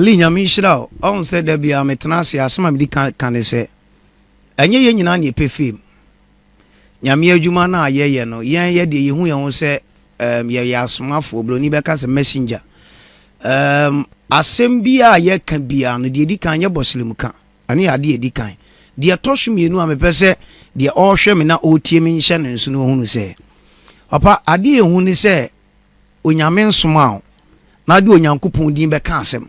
Lee, Nyame nhyira wo. Ɔhu sɛ da biara metena ase a, asɛm a medi kan ka ne sɛ, ɛnyɛ yɛn nyinaa na yɛpɛ fame. Nyame adwuma no a yɛyɛ no, yɛn yɛ deɛ yɛhu yɛn ho sɛ um yɛyɛ asomafoɔ, Buroni bɛka sɛ messenger. Um asɛm biara a yɛka biara no, deɛ ɛdi kan yɛ bɔ slim ka. Ɛno yɛ adeɛ a ɛdi kan. Deɛ ɛtɔ so mmienu a mepɛ sɛ deɛ ɔrehwɛ me na ɔretie me nhyɛ no nso no ɔhunu sɛ, Papa, adeɛ a ɛhu ne sɛ Onyame nsomaa wo na wode Onyankopɔn din bɛka asɛm.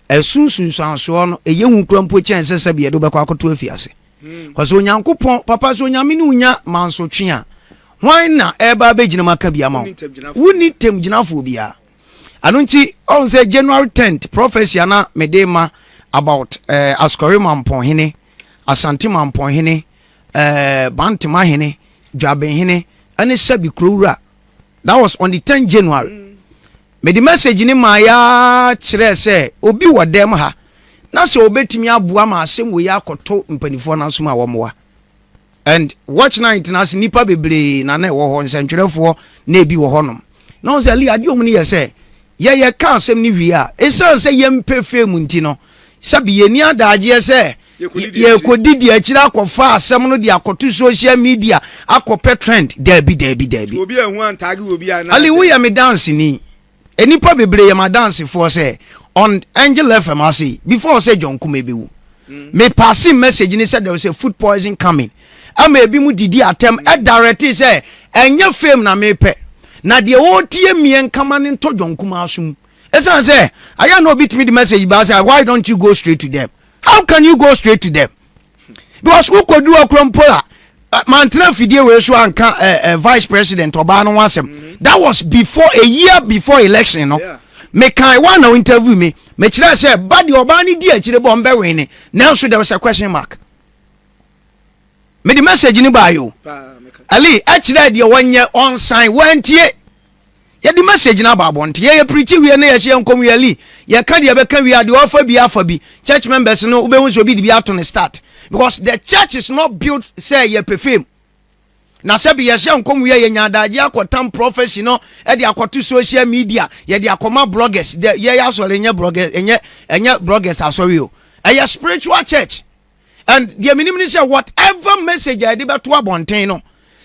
Ɛso nsunsuansoɔ no, ɛyɛ hu kora mpo kyɛn sɛ sɛbi yɛde wobɛkɔ akɔto afiase. Kɔ sɛ Onyankopɔn, papa sɛ Onyame ne wonya mansotwe a, hwan na ɛreba abɛgyinam aka bi ama wo? Wonni tamgyinafoɔ biara. Ɛno nti, ɔhu sɛ January 10th prophecy a na mede ma about eh, Asukɔre Mampɔnhene, Asante Mampɔnhene, eh, Bantema Hene, Dwabenhene, ɛne sɛbi kurowura that was on the ten january mede message ne maa ya kyerɛɛ sɛ obi wɔ dɛm ha na sɛ obetumi aboa ma asɛm wɔ yi akɔto mpanimfoɔ no asom a wɔmmoa and watch night na ase nipa bebree na na ɛwɔ hɔ nsɛntwerɛfoɔ na ebi wɔ hɔnom na wɔn sɛ ali adeɛ ɔmo no yɛ sɛ yɛyɛ ka asɛm no wie a esan sɛ yɛn mpɛ fee mu nti no Sɛbi yɛnni adaagyeɛ sɛ yɛrekɔdidi akyire akɔfa asɛm no de akɔto social media akɔpɛ trend. Daabi, daabi, daabi. Ali, woyɛ me danseni. Nnipa bebree yɛ m'adansefoɔ sɛ on Angel FM ase yi, before sɛ John Kumeh bɛwu, mm. me passing message ne sɛ there was a food poison coming. Ɛma ebi mu didi atɛm ɛdarɛte sɛ ɛnyɛ fame na mepɛ. Na deɛ wɔretie mmeɛ nkama no ntɔ John Kumeh aso mu. Esiane sɛ ayɛ a na obi tumi de message baa sɛ why don't you go straight to them how can you go straight to them because wokɔduru hɔ korɔ mpo a mantena fidie wei so anka eh, eh, vice president ɔbaa no ho asɛm mm-hmm. that was before a year before election no mekae wa na interview me mekyerɛ sɛ ba deɛ ɔbaa no di akyire bɔ ɔmbɛwene nanso there was a question mark mede message no baa yo ali ɛkyerɛ deɛ wɔnyɛ ɔnsan wɔantie yɛde message no aba abɔnte yɛyɛ pirikyi wie ne yɛhyɛ nkɔm wie ali yɛka deɛ bɛka wie adeɛ ɔfa bi afa bi church members no wobɛhu sɛ obi de bi ato ne start because the church is not built sɛ yɛpɛ fam na sɛbi yɛhyɛ nkɔm wie yɛnya adagye akɔtam prophecy no ɛde akɔto social media yɛde akɔma bloggers dɛ yɛyɛ asɔre ɛnyɛ bloggers ɛnyɛ ɛnyɛ bloggers asɔre o ɛyɛ spiritual church and deɛ menim ne sɛ whatever message a yɛde bɛto abɔnten no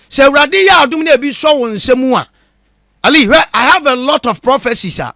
sɛ awurade yɛ adom na ebi sɔ wo nsa mu a ali hwɛ i have a lot of prophecies a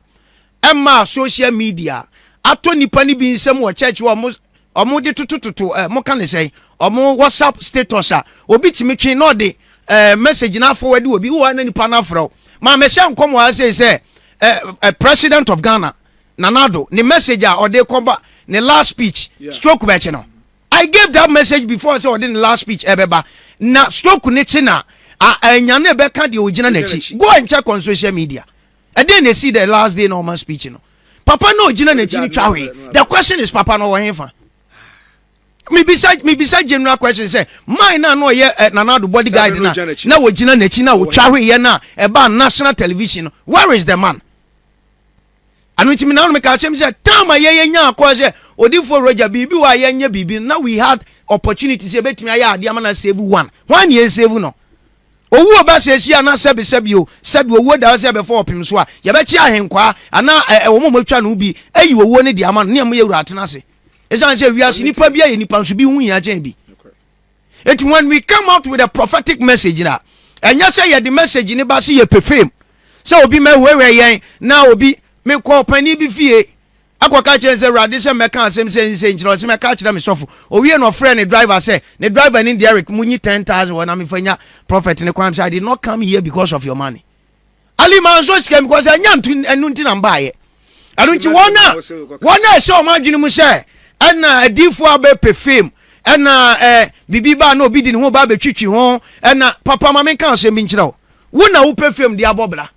ɛma social media atɔ nipa no bi nsɛm wɔ church wɔ ɔmo ɔmo de totototo ɛ eh, mo ka ne sɛn ɔmo whatsapp status a obi tumi twe na ɔde ɛ eh, message na afɔ wɛde obi wɔ na nipa na afrɛ o maa mɛhyɛ nkɔm wɔ ha sɛ ɛ eh, ɛ president of ghana. Nana Addo ne message a ɔde rekɔ ba ne last speech stroke bɛkye no. I gave that message before sɛ ɔde ne last speech ɛbɛba na stroke no kye no a, a ɛnya no ɛbɛka deɛ ɔgyina n'akyi. Go and check on social media. Ɛdeɛn na ɛsii the last day na ɔma speech no? Papa no a ɔgyina n'akyi no twa hwee. The question is papa no ɔwɔ he fa? mebisa mebisa general question sɛ man na na ɔyɛ eh, nanado body guide na na wɔgyina n'akyi na wɔtwa hweyɛ no a ɛbaa national television no where is the man ɛno nti menanom meka akyerɛ me sɛ tam a yɛyɛ nya akɔa sɛ odifoɔ roger biribi wɔ a yɛnyɛ biribi na we had opportunity sɛ yɛbɛtumi ayɛ adeɛ ama na save one hwan ne yɛn save no owuo ba sɛ ɛsi a na sɛbi sɛbi o sɛbi owuo da hɔ sɛ ɛbɛfa ɔpem so a yɛbɛkye ahenkwaa anaa ɛwɔ mo mɔtwa no bi ayi owuo no de ama no ne ɛmo yɛ wura atena ase ɛsiane sɛ wiase nipa bi ayɛ nipa nso bi ho hia kyɛn bi Eti when we come out with a prophetic message na ɛnyɛ sɛ yɛde message ne ba sɛ yɛ pefeem sɛ obi mɛhwɛhwɛ yɛn na obi mekɔ ɔpanin bi fie akɔka kyerɛ sɛ awurade sɛ mɛka asɛm sɛ ne sɛ nkyerɛ ɔsɛ mɛka kyerɛ me sɔfo owie na ɔfrɛ ne driver sɛ ne driver ne Derek munyi 10000 wɔ na mefa nya prophet ne kwan sɛ I did not come here because of your money ali maa nso sika because ɛnya nto ɛno nti na mbaayɛ ɛno nti wɔn a wɔn a ɛhyɛ wɔn adwene mu sɛ ɛna adiifoɔ abɛpɛ fame ɛna ɛɛ bibi baa na obi di ne ho ba abɛtwitwi ho ɛna papa maame nka asɛm bi nkyerɛ wo wo na wopɛ fame de abɔ bra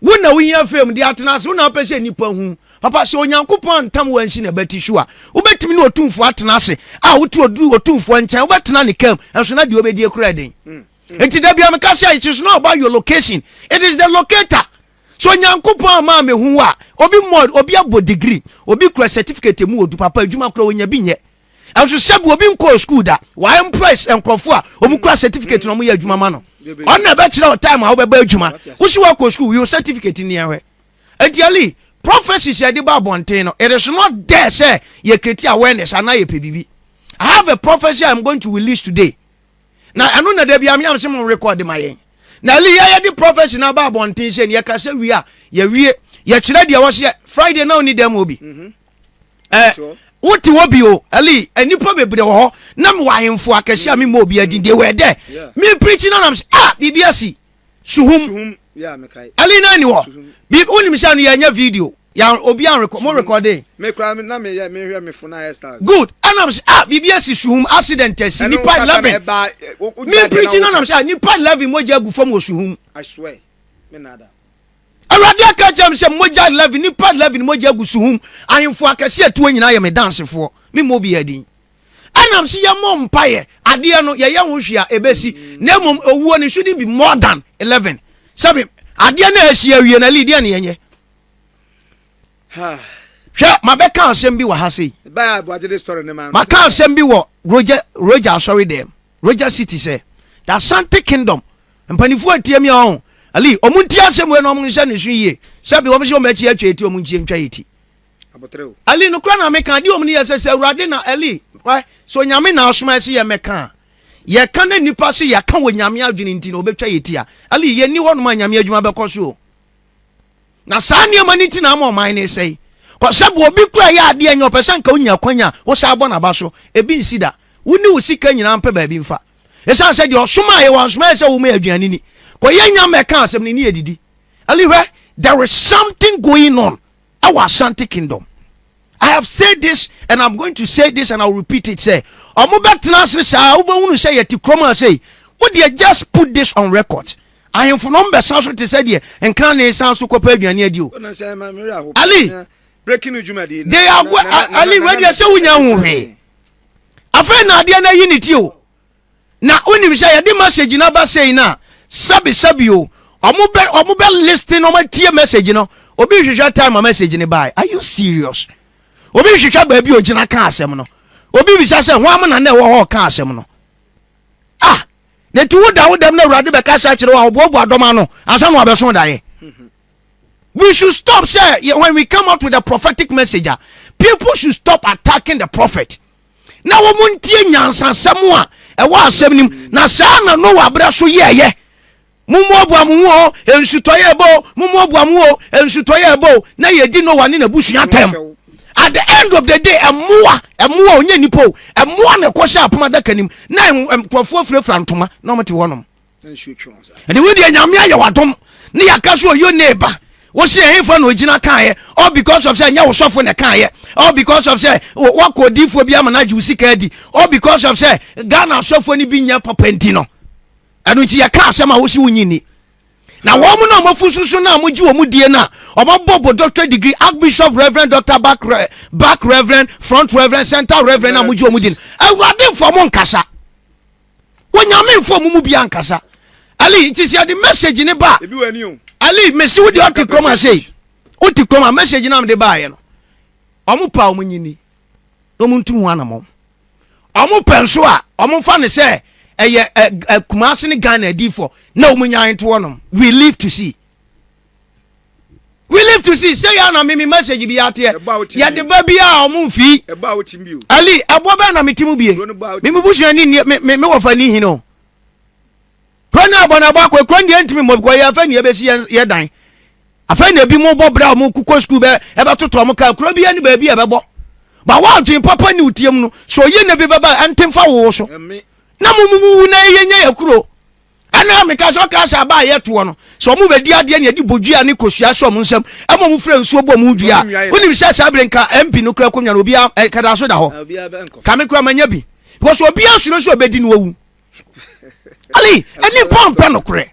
wo na wohia fame de atena ase wo na wopɛ sɛ nnipa hu papa sɛ onyankopɔn antam wansi na bɛti so a wobɛtumi ne ɔtumfoɔ atena ase a wote ɔtumfoɔ nkyɛn wobɛtena ne kam ɛnso na deɛ wobɛdie koraa den mm. nti da bia meka sɛ it is not about your location it is the locator so nyankopɔn ama me hu a obi mmɔ obi abɔ degree obi kura certificate mu odu papa adwuma kura onya bi nyɛ ɛnso sɛbi obi nkɔɔ school da wa impress nkurɔfo a wɔn kura certificate na wɔn yɛ adwuma ma no ɔno na ɛbɛkyerɛ wɔ time a wɔbɛba adwuma wosi wɔkɔ school yɛ certificate ni ɛhwɛ eti ali prophecies yɛde ba abɔnten no it is not there sɛ yɛ create awareness anaa yɛ pɛ biribi i have a prophecy i am going to release today. na ɛno na da bia meam sɛ mo rekɔde ma yɛn na ɛli yɛ yɛde prɔfɛsi no aba abɔnten sɛ neɛ ka sɛ wie a yɛwie yɛkyerɛ deɛ wɔseɛ friday na ɔni dɛm obi mhm. eh, wote hɔ bi o ɛli nnipa bebree wɔ hɔ na mewɔ ahemfo akɛse a memmɔ obi adin deɛ wɔ ɛdɛ meprikyi no nam sɛ a ah, biribi asi Suhum. Ɛli na ni wɔ. Bi wo nim sɛ no yɛ nyɛ video. Ya obi an record mo recording. Me kura na me yɛ me hwɛ me fo na hairstyle. Good. Anam sɛ ah bibi asi suhum accident asi nipa 11. Me preaching anam sɛ nipa 11 mogya agu fam wɔ suhum. I swear. Me nada. Awurade aka kyerɛ me sɛ mogya 11 nipa 11 mogya agu suhum. Ahemfo akɛse atuo nyinaa yɛ me dansefoɔ. Me mmɔ obi adin. Ɛnam sɛ yɛmmɔ mpaeɛ adeɛ no yɛyɛ ho hwee a ɛbɛsi na mmom owuo no shouldn't be more than 11 sɛbe adeɛ no a ɛsi awie na li deɛ ne yɛnyɛ hwɛ mabɛka asɛm bi wɔ ha sei maka asɛm bi wɔ roger roger asɔre dɛm roger city sɛ the asante kingdom mpanimfoɔ atie mi ɔho ali ɔmo nti asɛm wei na ɔmo nhyɛ ne so yie sɛbe ɔmo sɛ ɔmo akyi atwa eti ɔmo nkyie ntwa eti aboterɛ o. Ɛli, nokorɛ na meka, deɛ wɔn no yɛ sɛ, sɛ Awurade na, Ɛli, hwɛ, sɛ Onyame na asoma yɛ sɛ yɛmmɛka a, yɛka na nnipa se yɛka wɔ Nyame adwene nti na wɔbɛtwa yɛ ti a, Ɛli, yɛnni hɔnom a Nyame adwuma bɛkɔ so o. Na saa nneɛma no nti na ama ɔman no resɛe. Kɔ sɛ bɔ obi kura yɛ adeɛ nyɛ ɔpɛ sɛ nka wonya kwan a wosan bɔ n'aba so, ebi nsi da. Wo ne wo sika nyinaa mpɛ baabi mfa. Ɛsiane sɛ deɛ ɔsomaa yɛ wansoma yɛ sɛ wɔma yɛ aduane ni. Kɔ yɛ nya mmɛka asɛm no ne yɛdidi. Ɛli, hwɛ, there is something going on. ɛwɔ ashanti kingdom i have said this and i'm going to say this and i'll repeat it sɛ ɔmo bɛ tena ase saa wobɛhunu sɛ yɛte kurom a sei wodeɛ just put this on record ahemfo no ɔmbɛsan so te sɛ deɛ nkra ne san so kɔpɛ aduane adi o ali they are go ali wei deɛ sɛ wonya ho hwee afei na adeɛ no ayi ne ti o na wonim sɛ yɛde message no aba sei no a sɛbesɛbe o ɔmo bɛ ɔmo bɛ listen ɔmo atie message no obi nhwehwɛ time a message no bae are you serious obi nhwehwɛ baabi ogyina ka asɛm no obi bisa sɛ ho am na na ɛwɔ hɔ ka asɛm no ah na ti wo da wo dɛm na awurade bɛka sɛ kyerɛ wo a ɔboaboa dɔm ano ansa na wabɛso daeɛ we should stop sɛ when we come out with a prophetic message a people should stop attacking the prophet na wɔn ntie nyansasɛm a ɛwɔ asɛm nim na saa na noa abira so yɛɛyɛ mummuabua mo ho o nsutɔyɛ ɛbɔ o mummuabua mo ho o nsutɔyɛ ɛbɔ o na yɛdi noa ne n'abusua tɛm at the end of the day ɛmoa ɛmoa onye nipa o ɛmoa na ɛkɔhyɛ apoma adaka nim na nkurɔfoɔ firafira ntoma na wɔn ti hɔ nom. ɛde wo deɛ nyame ayɛ wadom ne yɛaka so ɔyɛ ne ba wosi ɛhefa na ogyina kaayɛ all because of sɛ ɛnyɛ wo sɔfo na kaayɛ all because of sɛ wakɔ odiifoɔ bi ama no agye wo sika adi all because of sɛ ghana asɔfoɔ no bi nyɛ papa nti no ɛno nti yɛka asɛm a wosi wonyi ni na wɔn mu na wɔn afu soso na wɔn gye wɔn die na wɔn bɔ bɔ doctor degree archbishop reverend doctor back back reverend front reverend center reverend na wɔn gye wɔn die no awurade nfa wɔn nkasa. wonyame mfa ɔmo mu bia nkasa ali nti sɛ ɛde message ne ba ali mesi wode ɔte kurom asei wote kurom a message no amde baayɛ no ɔmo pa ɔmo nyini na ɔmo ntu ho anamɔ ɔmo pɛ nso a ɔmo mfa ne sɛ ɛyɛ kumase ne ghana adifo na ɔmo nyan to hɔnom we live to see we live to see sɛ yɛ na mimi message bi ateɛ yɛde ba bi a ɔmo nfi ali ɛboɔ bɛɛ na mete mu bie mimi busua ni ni me me wɔfa ni hin o kuro ne abɔ na ɛbɔ akɔ kuro ne deɛ ntumi mmɔ bikɔ yɛ afɛ ne yɛbɛsi yɛ yɛ dan afɛ ne ebi mo bɔ bra ɔmo kukɔ sukuu bɛ ɛbɛtoto ɔmo kaa kuro bi yɛ ne baabi a ɛbɛbɔ ba wa adwene papa ni otie mu no so yɛ ne bi bɛba ɛnte nfa wo so na mo mu wu na yɛ nyɛ yɛ kuro. ɛna a meka sɛ ɔkaa sɛ aba a yɛtoɔ no sɛ ɔmo bɛdi adeɛ ne yɛde bɔdua ne kosua sɛ ɔmo nsam ɛma ɔmo frɛ nsuo bɔ ɔmo dua a wonim sɛ saa bere nka mp no kora akonnwa no obia eh, kadaa so da hɔ ka me kora manya bi because obia suro sɛ ɔbɛdi no wawu ali ɛne pɔmpɛ nokorɛ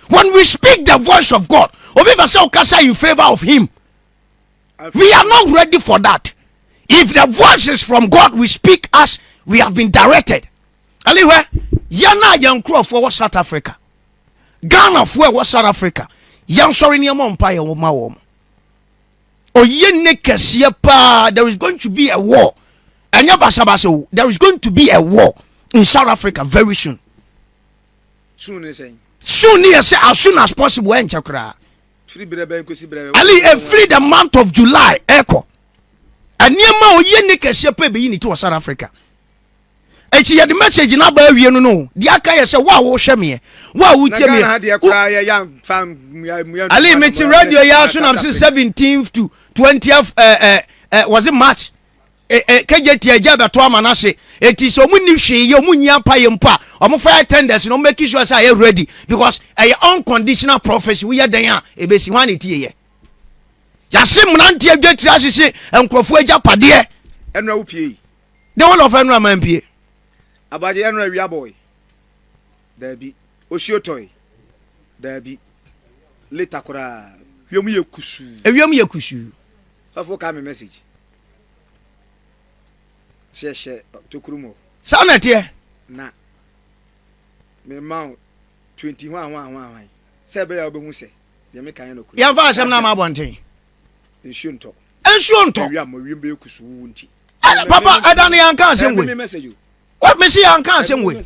when we speak the voice of god obi pɛ sɛ wokasa in favor of him we are not ready for that if the voice is from god we speak as we have been directed ɛne hwɛ yɛn a yɛn nkurɔfoɔ wɔ south africa ghanafoɔ ɛwɔ south africa yɛn sɔre nneɛma mpa yɛn ma wɔn oyie ne kɛseɛ paa there is going to be a war ɛnyɛ basabasa o there is going to be a war in south africa very soon soon ne sɛn soon ne yɛ sɛ as soon as possible ɛnkyɛ koraa ali efiri the month of july ɛkɔ nneɛma oyie ne kɛseɛ paa ebeyi ne ti wɔ south africa. Enti yɛde message no aba awie no no o. Deɛ aka yɛ sɛ wo a wohwɛ meɛ, wo a wotie meɛ. Na Ghana ha deɛ koraa yɛ yɛ anfa mmua mmua ntoma. Ali me te radio yɛ aso nam se 17th to 20th eh, eh, eh, was it March? Eh, eh, KJT agya bɛto ama no ase. Enti sɛ ɔmo nni hwee yɛ, ɔmo nyi apa yɛ mpo a, ɔmo fa yɛ tenders na ɔmo make sure sɛ ayɛ ready because ɛyɛ unconditional prophecy woyɛ dɛn a ebesi hwan na etie yɛ. Yɛase mmeranteɛ dwatiri ahyehye nkurɔfoɔ agyapadeɛ. Ɛnura wo pie yi. de wo lɔfɛ no ama mpie. Abagye ɛno awia bɔɔe daabi osuo tɔe daabi leta koraa wiem yɛ kusuu. Ewiem yɛ kusuu. Sɔfo ka me message hyɛ hyɛ tokuru mu. Saa na ɛteɛ. Na me ma wo twenty hwan hwan hwan hwan sɛ ɛbɛyɛ a wobɛhu sɛ deɛ meka yɛ nɔkuru. Yɛmfa asɛm no ama abɔnten. Nsuo ntɔ. Nsuo ntɔ. Ewia ma wiem bɛyɛ kusuu wuwu nti. ɛna papa ɛda no yɛnka asɛm wei mese yɛnka asɛm wei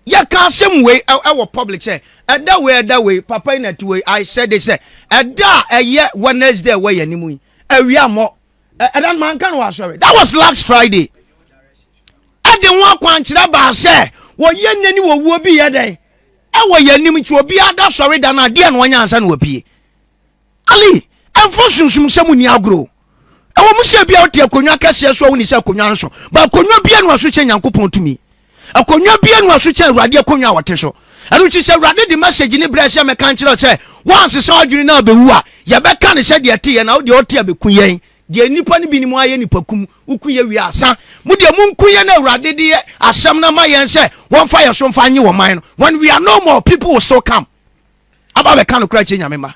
yɛka asɛm wei ɛwɔ public sɛ ɛda wei ɛda wei papa yi na ti wei i said it sɛ ɛda a ɛyɛ wednesday ɛwɔ yɛn anim yi awia mmɔ ɛda no manka no wɔ asɔre that was last friday ɛde ho akwankyerɛ baa sɛ wɔyɛ nnɛ ne wɔwuo bi yɛ dɛn ɛwɔ yɛn anim nti obiara da sɔre da no adeɛ na ɔnyɛ ansa na wɔpie Ali, Ɛmfa sunsumsɛm nni agorɔ o. Ɛwɔ mu sɛ ebia wote akonnwa kɛseɛ so a wonni sɛ akonnwa nso, ba akonnwa bi anu aso kyɛn Nyankopɔn tumi. Akonnwa bi anu aso kyɛn Awurade akonnwa a ɔte so. Ɛno nti sɛ Awurade de message no brɛɛ sɛ mɛka nkyerɛ wo sɛ woansesa w'adwene na abɛwu a, yɛbɛka no sɛdeɛ ɛteɛ na wodeɛ wote a bɛku yɛn. Deɛ nnipa no binom ayɛ nnipa kum, woku yɛ wie a asa. Mo deɛ monku yɛn na Awurade de yɛ asɛm no ama yɛn sɛ wɔmfa yɛn so mfa nnye wɔn man no. When we are no more, people will still come. aba abɛka nokorɛ akyerɛ Nyame mma.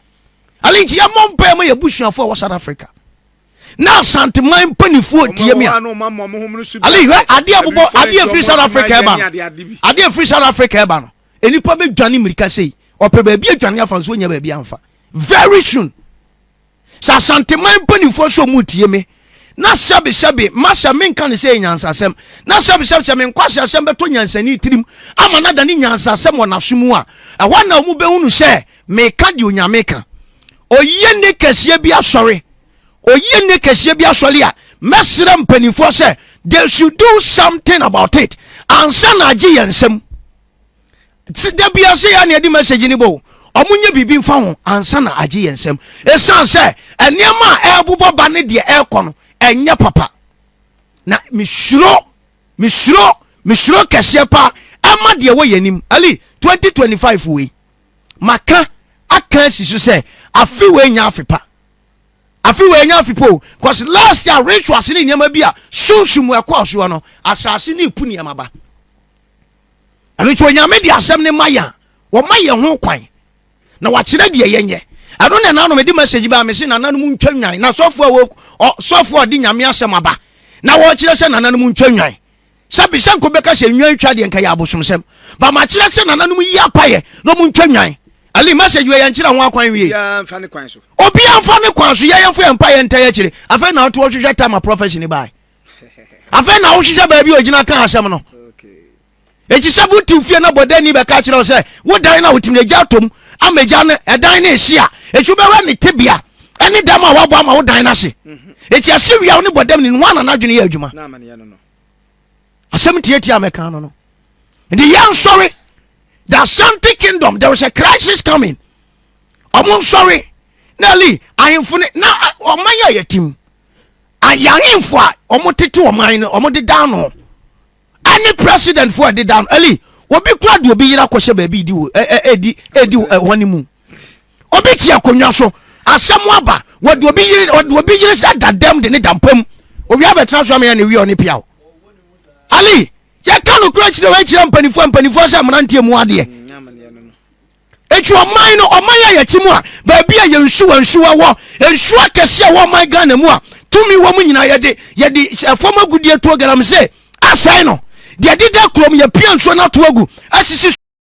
Ale nti yɛmmɔ mpaeɛ ma yɛn abusuafoɔ a ɛwɔ South Africa na Asanteman mpanimfoɔ tie me a. Ale hwɛ adeɛ bobɔ adeɛ firi South Africa ɛba no adeɛ firi South Africa ɛba no nnipa bɛdwane mmirika sei ɔpɛ baabi adwane afa nso ɔnya baabi amfa very soon. Sɛ Asanteman mpanimfoɔ sɛ ɔmu ntie me na sɛbesɛbe mahyɛ menka ne sɛ yɛ nyansasɛm na sɛbesɛbe sɛ me nkwaseasɛm bɛtɔ nyansani tirim ama no adane nyansasɛm wɔ n'aso mu a ɛhɔ na ɔmu bɛhunu sɛ meka deɛ onyame ka oyie ne kɛseɛ bi asɔre oyie ne kɛseɛ bi asɔre a mɛsrɛ mpanimfoɔ sɛ they should do something about it ansa na agye yɛn nsam da biara sɛ yɛa ne ɛde message no bɔ ɔmo nyɛ biribi mfa ho ansa na agye yɛn nsam ɛsiane sɛ nneɛma a ɛrebobɔ ba ne deɛ ɛrekɔ no ɛnyɛ papa na mesuro mesuro mesuro kɛseɛ paa ɛma deɛ wɔ yɛn anim ali 2025 wei maka aka asi so sɛ afe wei nya afe pa afe wei nya afe pa o cause last year rituals ne nneɛma bi a sunsun mu ɛkɔɔ soɔ no asase ne epu nneɛma ba. ɛno nti onyame de asɛm no ma yɛn a ɔma yɛn ho kwan na wakyerɛ deɛ yɛnyɛ ɛno na ɛnanom ɛde message baa mese nananom ntwa nwan na sɔfoɔ a wɔ sɔfoɔ a ɔde nyame asɛm aba na wɔkyerɛ sɛ nananom ntwa nwan sɛ bisɛ nko bɛka sɛ nwan twa deɛ nka yɛ abosomsɛm ba makyerɛ sɛ nananom yi apayɛ na ɔmo ntwa nwan ali message wɔ yɛnkyerɛ ho akwan wie obiaa mfa ne kwan so yɛyɛmfa yɛmpa yɛnta yɛkyerɛ afei na ɔto ɔhwehwɛ tama profession bae afei na wohwehwɛ baabi a ogyina ka asɛm no eti sɛ wotiw fie na bɔdani bɛka kyerɛ wo sɛ wodan na wotumi agya atom ama agya no ɛdan ne ɛhye a ɛtu bɛwɛ ne tebea ɛne dɛm a wabɔ ama wodan no ase ɛti mhm. ɛse wia wo ne bɔdam ne ho anana adwene yɛ adwuma asɛm tiatia mɛka no no nti yɛnsɔre the asante kingdom there is a crisis coming ɔmo nsɔre na li ahemfo ne na ɔman yɛ yɛtim ayɛ ahemfo a wɔtete ɔman no wɔdeda ano ɛne presidentfo a ɛdeda ano ɛli obi kura de obi yera kɔhyɛ baabi di wɔ ɛdi ɛdi wɔn ne mu obi te akonnwa so asɛm aba wɔde obi yere wɔde obi yere sɛ da dɛm de ne da mpam owia bɛtena so ama yɛ ne wia ɔne pia o ali yɛka no kura kyerɛ wɔakyerɛ mpanimfoɔ mpanimfoɔ sɛ mmeranteɛ mu adeɛ Eti ɔman no ɔman a yɛte mu a baabi a yɛn nsuwa nsuwa wɔ nsuo akɛse a wɔ ɔman Ghana mu a tumi wɔ mu nyinaa yɛde yɛde ɛfam agudeɛ tuo galamsey asɛe no deɛ deda kurom yɛpia nsuo no ato agu asisi